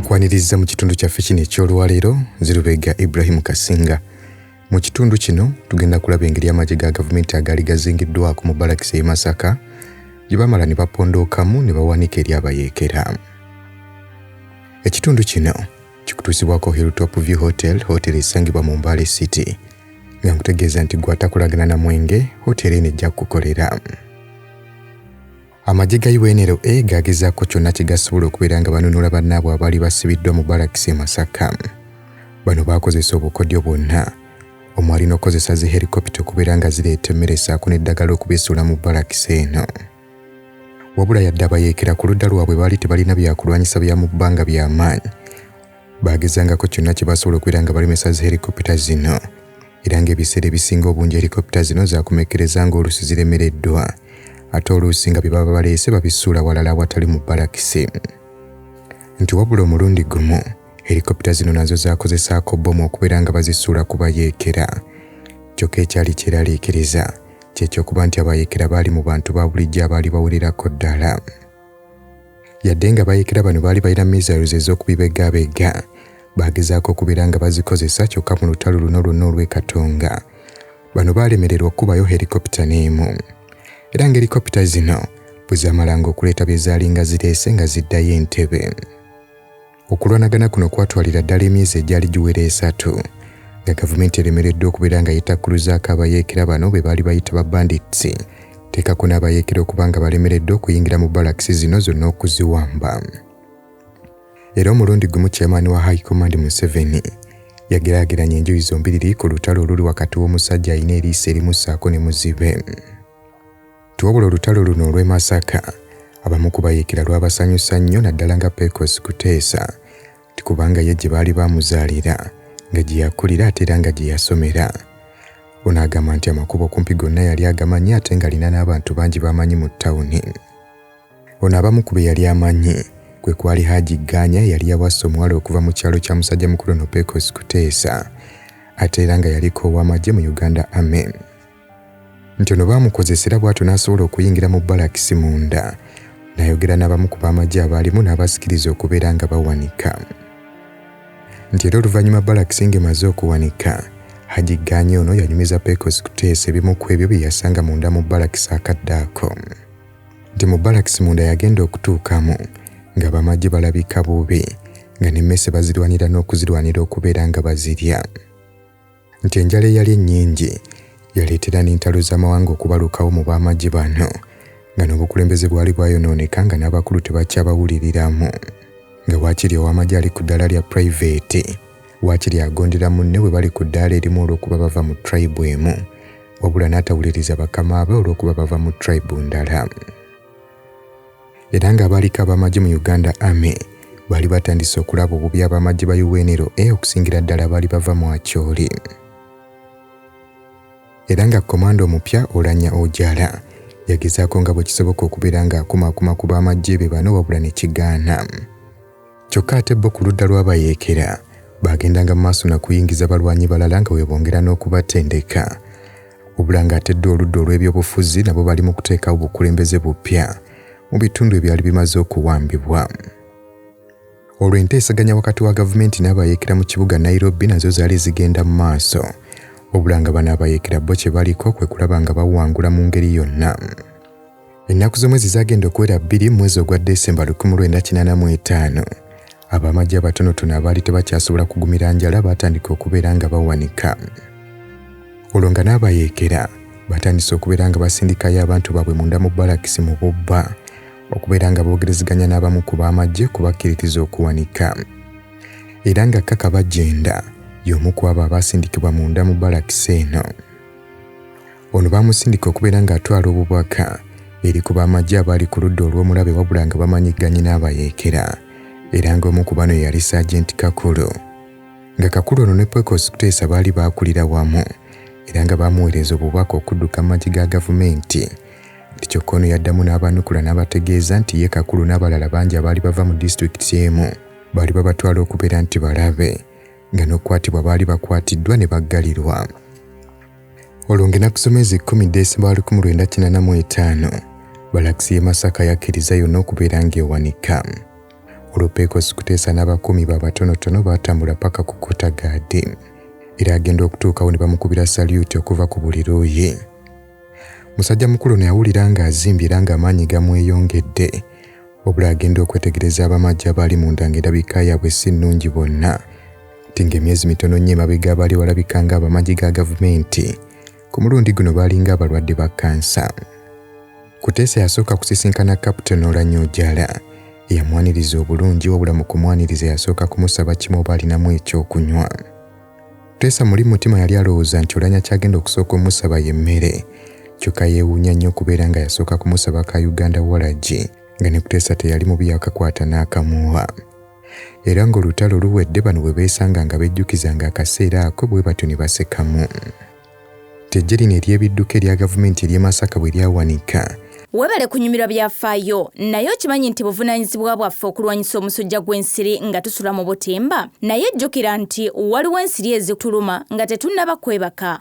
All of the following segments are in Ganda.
nkwaniriza mu kitundu kyaffe kino eky'olwaleero zirubega ibrahimu kasinga mu kitundu kino tugenda kulaba engeri amagye ga gavumenti agaali gazingiddwako mu balakisi e masaka gye bamala ne bapondookamu ne bawanika eri abayeekera ekitundu kino kikutuusibwako Hilltop View Hotel, hotel esangibwa mu Mbale City nga nkutegeeza nti gwe atakolagana na mwenge hotel eno ejja kukukolera. Amagye ga UNLA e gagezaako kyonna kye gasobola okubeera nga banunula bannaabwe abaali basibiddwa mu balakisi e Masaka. Bano baakozesa obukodyo bwonna omwali n'okukozesa zi helikopita okubeera nga zireeta emmere saako n'eddagala okubesuula mu balakisi eno. wabula yadde abayeekera ku ludda lwabwe baali tebalina byakulwanyisa bya mu bbanga bya maanyi baagezangako kyonna kye basobola okubeera nga balemesa zi helikopita zino era ng'ebiseera ebisinga obungi helikopita zino zaakomekkereza ng'oluusi ziremereddwa ate oluusi nga bye baba baleese babisuula walala awatali mu balakisi nti wabula omulundi gumu helikopita zino nazo zaakozesaako bbomu okubeera nga bazisuula ku bayeekera kyokka ekyali kyeraliikiriza kyekyokuba nti abayekera baali mu bantu ba bulijjo abaali bawererako ddala yadde nga bayekera bano baali balina missiles ez'okubibegabega baagezaako okubeera nga bazikozesa kyokka mu lutalo luno lwonna olw'ekatonga bano baalemererwa okukubayo helikopita n'emu era nga helikopita zino bwe zaamalanga okuleeta bye zaalinga zireese nga ziddayo entebe Okulwanagana kuno kwatwalira ddala emyezi egyali giwera esatu nga gavumenti eremereddwa okubeera nga yetakkuluzaako abayeekera bano be baali bayita ba bandits teekako n'abayeekera okuba nga balemereddwa okuyingira mu balakisi zino zonna okuziwamba era omulundi gumu chairman wa high command museveni yageraageranya enjuyi zombiriri ku lutalo oluli wakati w'omusajja alina eriiso erimussaako ne muzibe Nti wabula olutalo luno olw'e Masaka abamu ku bayeekera lwabasanyusa nnyo naddala nga Pecos Kuteesa nti kubanga ye gye baali baamuzaalira nga gye yakulira ate era nga gye yasomera. Ono agamba nti amakubo okumpi gonna yali agamanyi ate ng'alina n'abantu bangi b'amanyi mu ttawuni. Ono abamu ku be yali amanyi kwe kwali Haji Ganya eyali yawasa omuwala okuva mu kyalo kya musajja mukulu ono Pecos Kuteesa ate era nga yaliko ow'amagye mu Uganda Army. nti ono baamukozesa era bw'atyo n'asobola okuyingira mu balakisi munda n'ayogera n'abamu ku b'amagye abaalimu n'abasikiriza okubeera nga bawanika nti era oluvannyuma balakisi ng'emaze okuwanika Haji Ganye ono yanyumiza Pecos kuteesa ebimu ku ebyo bye yasanga munda mu balakisi akadde ako nti mu balakisi munda yagenda okutuukamu nga bamagye balabika bubi nga n'emmese bazirwanira n'okuzirwanira okubeera nga bazirya nti enjala eyali ennyingi yaleetera n'entalo z'amawanga okubalukawo mu b'amagye bano nga n'obukulembeze bwali bwayonooneka nga n'abakulu tebakyabawuliriramu nga waakiri ow'amagye ali ku ddaala lya purayiveti waakiri agondera munne bwe bali ku ddaala erimu olw'okuba bava mu tribe emu wabula n'atawuliriza bakama be olw'okuba bava mu tribe ndala era ng'abaaliko ab'amagye mu Uganda Army baali batandise okulaba obubi ab'amagye ba UNRA e okusingira ddala abaali bava mu Acholi era nga komanda omupya Olanya Ojala yagezaako nga bwe kisoboka okubeera ng'akumaakuma ku b'amagye be bano wabula ne kigaana. Kyokka ate bo ku ludda lw'abayeekera baagendanga mu maaso na kuyingiza balwanyi balala nga bwe bongera n'okubatendeka wabula ng'ate dda oludda olw'ebyobufuzi nabo bali mu kuteekawo bukulembeze bupya mu bitundu ebyali bimaze okuwambibwa olwo enteeseganya wakati wa gavumenti n'abayeekera mu kibuga nairobi nazo zaali zigenda mu maaso wabula nga bano abayeekera bo kye baliko kwe kulaba nga bawangula mu ngeri yonna Ennaku z'omwezi zaagenda okuwera bbiri mu mwezi ogwa Desemba 1985. Ab'amagye abatonotono abaali tebakyasobola kugumira njala baatandika okubeera nga bawanika. Olwo nga n'abayeekera batandise okubeera nga basindikayo abantu baabwe munda mu balakisi mu bubba okubeera nga boogerezeganya n'abamu ku b'amagye kubakkiririza okuwanika. Era nga Kaka Bagyenda y'omu ku abo abaasindikibwa munda mu balakisi eno. Ono baamusindika okubeera ng'atwala obubaka eri ku b'amagye abaali ku ludda olw'omulabe wabula nga bamanyigganye n'abayeekera era ng'omu ku bano yali Saagenti Kakulu nga Kakulu ono ne Pecos Kuteesa baali baakulira wamu era nga baamuweereza obubaka okudduka mu magye ga gavumenti nti kyokka ono yaddamu n'abanukula n'abategeeza nti ye Kakulu n'abalala bangi abaali bava mu disitulikiti emu baali babatwala okubeera nti balabe nga n'okukwatibwa baali bakwatiddwa ne baggalirwa olwo ng'enaku z'omwezi kkumi desemba wa lukumi lwenda kinana mu etaano balakisi y'e masaka yakkiriza yonna okubeera ng'ewanika olwo pekosi kuteesa n'abakuumi baabatonotono baatambula paka ku kotagaadi era agenda okutuukawo ne bamukubira salyuti okuva ku buli luuyi musajja mukulu ne yawulira ng'azimbye era ng'amaanyi gamweyongedde wabula agenda okwetegereza abamajja abaali munda ng'endabika yaabwe si nnungi bonna nti ng'emyezi mitono nnyo emabega abaali balabika ng'abamagye ga gavumenti ku mulundi guno baalinga abalwadde ba kansa kuteesa yasooka kusisinkana captain olanyojala eyamwaniriza obulungi wabula mu kumwaniriza yasooka kumusaba kimu oba alinamu ekyokunywa teesa muli mutima yali alowooza nti olanya kyagenda okusooka omusaba y'emmere kyokka yeewuunya nnyo okubeera nga yasooka kumusaba ka uganda walagi nga ne kuteesa teyali mubi yakakwata n'akamuwa Era ng'olutalo luwedde bano bwe beesanga nga bejjukizanga akaseera ako bwe batyo ne basekamu. Tejje lino ery'ebidduka erya gavumenti ery'e Masaka bwe lyawanika, Webale kunyumirwa byafaayo, naye okimanyi nti buvunanyizibwa bwaffe okulwanyisa omusujja gw'ensiri nga tusula mu butimba? Naye jjukira nti waliwo ensiri ezituluma nga tetunnaba kwebaka,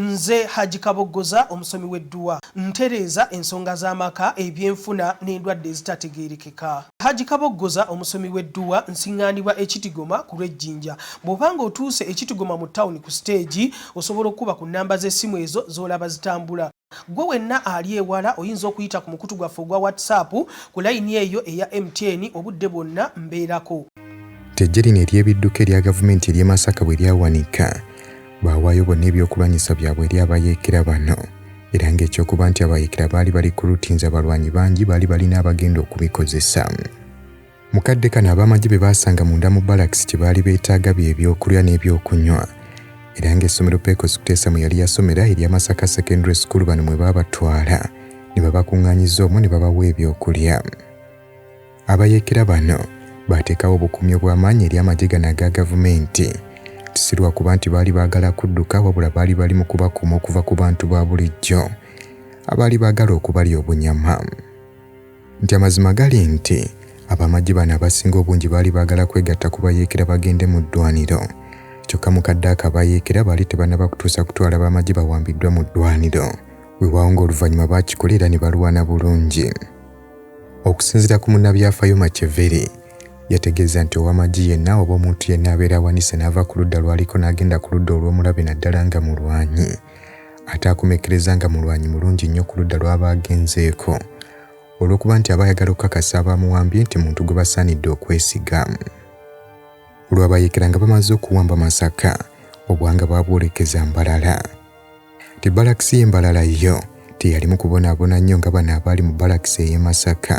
Nze Hajji Kaboggoza omusomi w'edduwa. Ntereeza ensonga z'amaka, ebyenfuna n'endwadde ezitategeerekeka. Hajji Kaboggoza omusomi w'edduwa. Nsiŋŋaanibwa e Kitigoma ku lw'e Jinja. Bw'oba ng'otuuse e Kitigoma mu ttawuni ku siteegi, osobola okukuba ku nnamba z'essimu ezo z'olaba zitambula. Ggwe wenna ali ewala oyinza okuyita ku mukutu gwaffe ogwa WhatsApp ku layini eyo eya MTN obudde bwonna mbeerako. Ttejje lino ery'ebidduka erya gavumenti ery'e Masaka bwe lyawanika, Baawaayo bonna ebyokulwanyisa byabwe eri abayeekera bano era ng'ekyokuba nti abayeekera baali bali ku rutinzi abalwanyi bangi baali balina abagenda okubikozesa. Mu kadde kano ab'amagye be baasanga munda mu balakisi kye baali beetaaga bye byokulya n'ebyokunywa era ng'essomero Pecos Kutesa mwe yali yasomera erya Masaka Secondary School bano mwe baabatwala ne babakuŋŋaanyiza omwo ne babawa ebyokulya. Abayeekera bano baateekawo obukuumi obw'amaanyi eri amagye gano aga Gavumenti. Si lwa kuba nti baali baagala kudduka wabula baali bali mu kubakuuma okuva ku bantu ba bulijjo abaali baagala okubalya obunyama. Nti amazima gali nti ab'amagye bano abasinga obungi baali baagala kwegatta ku bayeekera bagende mu ddwaaniro kyokka mu kadde ako abayeekera baali tebannaba kutuusa kutwala b'amagye bawambiddwa mu ddwaaniro. Weewaawo ng'oluvannyuma baakikola era ne balwana bulungi. Okusinzira ku munnabyafayo Macheveri, yategeeza nti owamagi yenna oba omuntu yenna abeera awanise n'ava ku ludda lwaliko n'agenda ku ludda olw'omulabe naddala nga mulwanyi ate akomekkereza nga mulwanyi mulungi nnyo ku ludda lw'aba agenzeeko olw'okuba nti aba ayagala okukakasa abaamuwambye nti muntu gwe basaanidde okwesiga olwabayekera nga bamaze okuwamba masaka obwanga baabwolekeza mbalala Ti balakisi ye Mbalala yo teyalimu kubonaabona nnyo nga bano abaali mu balakisi ey'e Masaka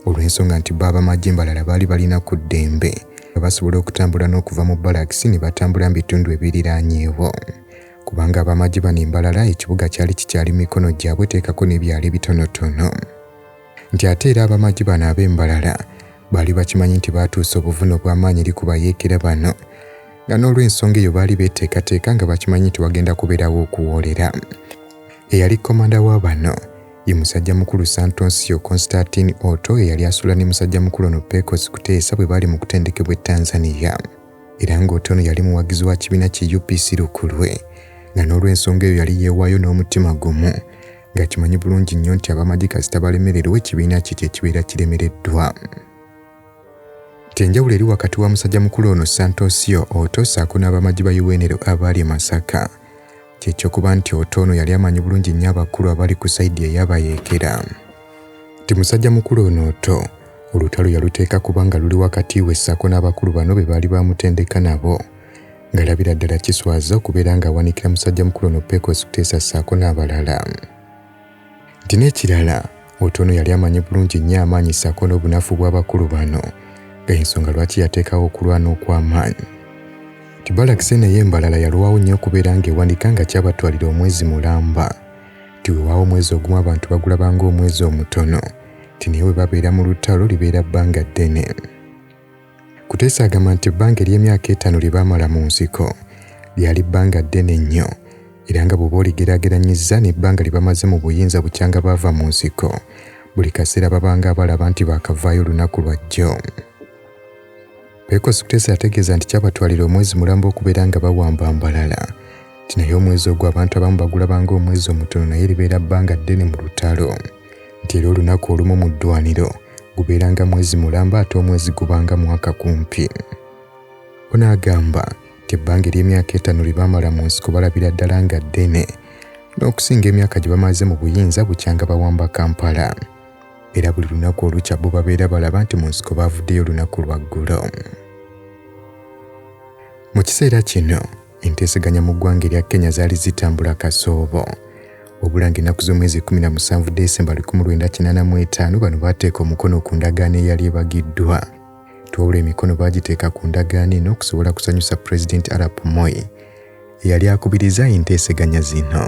olw'ensonga nti bo abamagye Mbalala baali balina ku ddembe nga basobola okutambula n'okuva mu balakisi ne batambula mu bitundu ebiriraanyeewo kubanga abamagye bano e Mbalala ekibuga kyali kikyali mikono gyabwe teekako n'ebyalo ebitonotono. nti ate era abamagi bano ab'embalala baali bakimanyi nti baatuusa obuvune obw'amaanyi eri ku bayeekera bano nga n'olw'ensonga eyo baali beeteekateeka nga bakimanyi nti wagenda kubeerawo okuwoolera eyali komanda wa bano ye musajja mukulu santonsio constantine oto eyali asula ne musajja mukulu ono pecos kuteesa bwe baali mu kutendekebwa e tanzania era ng'oto ono yali muwagizi wa kibiina ki upc lukulwe nga n'olw'ensonga eyo yali yeewaayo n'omutima gumu nga kimanyi bulungi nnyo nti abamagye kasita balemererwa ekibiina kye kyekibeera kiremereddwa kyenjawulo eri wakati wa musajja mukulu ono santosio oto saako n'abamagye ba uwenero abaali e masaka kyekyokuba nti oto ono yali amanyi bulungi nnyo abakulu abali ku saidi eyabayeekera nti musajja mukulu ono oto olutalo yaluteeka kubanga luli wakati we saako n'abakulu bano be baali bamutendeka nabo Ngalabira ddala kiswaza okubeera ng'awanikira musajja mukulu ono Pecos Kutesa ssaako n'abalala. Nti n'ekirala Otono yali amanyi bulungi nnyo amaanyi ssaako n'obunafu bw'abakulu bano nga ensonga lwaki yateekawo okulwana okw'amaanyi. Nti balakise naye embalala yalwawo nnyo okubeera ng'ewanika nga kyabatwalira omwezi mulamba. Nti wewaawo omwezi ogumu abantu bagulaba ng'omwezi omutono nti naye bwe babeera mu lutalo libeera bbanga ddene. Kuteesa agamba nti ebbanga ery'emyaka etaano lye baamala mu nsiko lyali bbanga ddene nnyo era nga bw'oba oligeraageranyizza n'ebbanga lye bamaze mu buyinza bukyanga baava mu nsiko buli kaseera babanga abalaba nti baakavaayo olunaku lwa jjo. Pecos Kuteesa yategeeza nti kyabatwalira omwezi mulamba okubeera nga bawamba Mbarara nti naye omwezi ogwo abantu abamu bagulabanga omwezi omutono naye libeera bbanga ddene mu lutalo. nti era olunaku olumu mu ddwaniro gubeeranga mwezi mulamba ate omwezi gubanga mwaka kumpi. Ono agamba nti ebbanga ery'emyaka etaano lye baamala mu nsiko balabira ddala nga ddene n'okusinga emyaka gye bamaze mu buyinza bukyanga bawamba Kampala era buli lunaku olukya bo babeera balaba nti mu nsiko baavuddeyo olunaku lwa ggulo. Mu kiseera kino Enteeseganya mu ggwanga erya Kenya zaali zitambula kasoobo. Wabula ng'ennaku z'omwezi 17 Desemba 1985 bano baateeka omukono ku ndagaano eyali ebagiddwa. Twawula emikono baagiteeka ku ndagaano eno okusobola kusanyusa Pulezidenti Arap Moi eyali akubirizza enteeseganya zino.